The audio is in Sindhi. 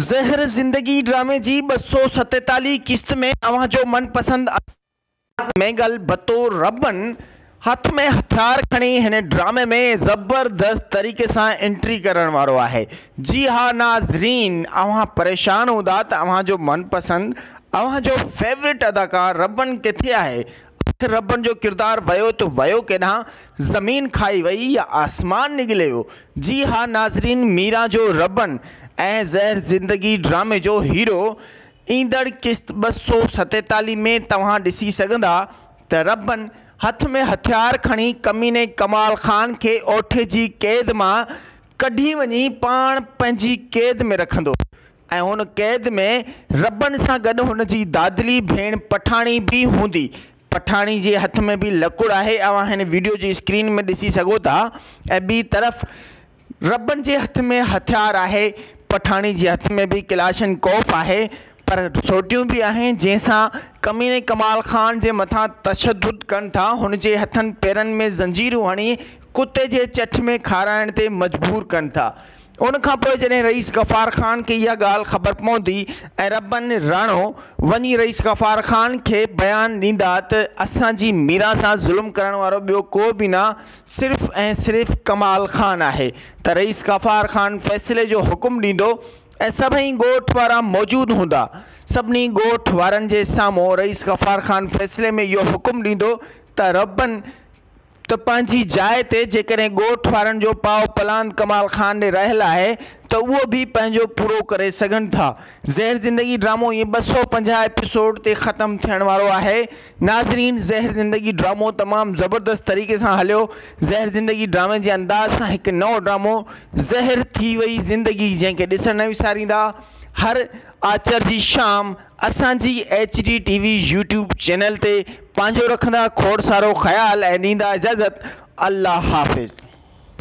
زهر زندگي ڊرامي جي ٻه سؤ ستيتاليهه قسط ۾ اوهان جو من پسند انداز ميگل بتو ربن هٿ ۾ هٿيار کڻي هن ڊرامي ۾ زبردست طريقي سان انٽري ڪرڻ وارو آهي جي ها ناظرين اوهان پريشان هوندا ته اوهان جو من پسند اوهان جو فيورٽ اداڪار ربن ڪٿي آهي اٺ ربن جو ڪردار ويو ته ويو ڪيڏانهن؟ زمين کائي وئي يا آسمان نگليو؟ جي ها ناظرين ميران جو ربن ۽ زهر زندگي ڊرامي جو هيرو ايندڙ قسط ٻه سؤ ستيتاليهه ۾ توهان ڏسي سگهندا ته ربن هٿ ۾ هٿيار کڻي ڪميني ڪمال خان کي اوٺي جي قيد مان ڪڍي وڃي پاڻ پنهنجي قيد ۾ رکندو ۽ هن قيد ۾ ربن سان گڏ هن جي دادلي ڀيڻ پٺاڻي به هوندي. پٺاڻي جي هٿ ۾ به لڪڙ آهي اوهان هن وڊيو جي اسڪرين ۾ ڏسي سگهو ٿا ۽ ٻي طرف ربن جي هٿ ۾ هٿيار آهي. پٺاڻي جي هٿ ۾ به ڪلاشن ڪوف آهي پر سوٽيون به آهن جنهن سان ڪميني ڪمال خان جي مٿان تشدد ڪن ٿا هن جي هٿن پيرن ۾ زنجيرون هڻي ڪتي جي چٺ ۾ کارائڻ تي مجبور ڪن ٿا ان کان پوء جڏهن رئيس غفار خان کي اها ڳالهه خبر پوندي ۽ ربن راڻو وڃي رئيس غفار خان کي بيان ڏيندا ته اسان جي ميران سان ظلم ڪرڻ وارو ٻيو ڪو به نه صرف ۽ صرف ڪمال خان آهي ته رئيس غفار خان فيصلي جو حڪم ڏيندو ۽ سڀئي ڳوٺ وارا موجود هوندا سڀني ڳوٺ وارن جي سامهون رئيس غفار خان فيصلي ۾ اهو حڪم ڏيندو ته ربن ته پنهنجي جاء تي جيڪڏهن ڳوٺ وارن جو پاء پلاند ڪمال خان ڏي رهيل آهي ته اهو به پنهنجو پورو ڪري سگهن ٿا. زهر زندگي ڊرامو ايئن ٻه سؤ پنجاهه ايپيسوڊ تي ختم ٿيڻ وارو آهي. ناظرين زهر زندگي ڊرامو تمام زبردست طريقي سان هليو. زهر زندگي ڊرامي جي انداز سان هڪ نئون ڊرامو زهر ٿي وئي زندگي جنهن کي ڏسڻ نه وساريندا هر آچر جي شام اسان جي H D T V YouTube channel تي پنهنجو رکندا کوڙ سارو خيال ۽ ڏيندا اجازت الله حافظ.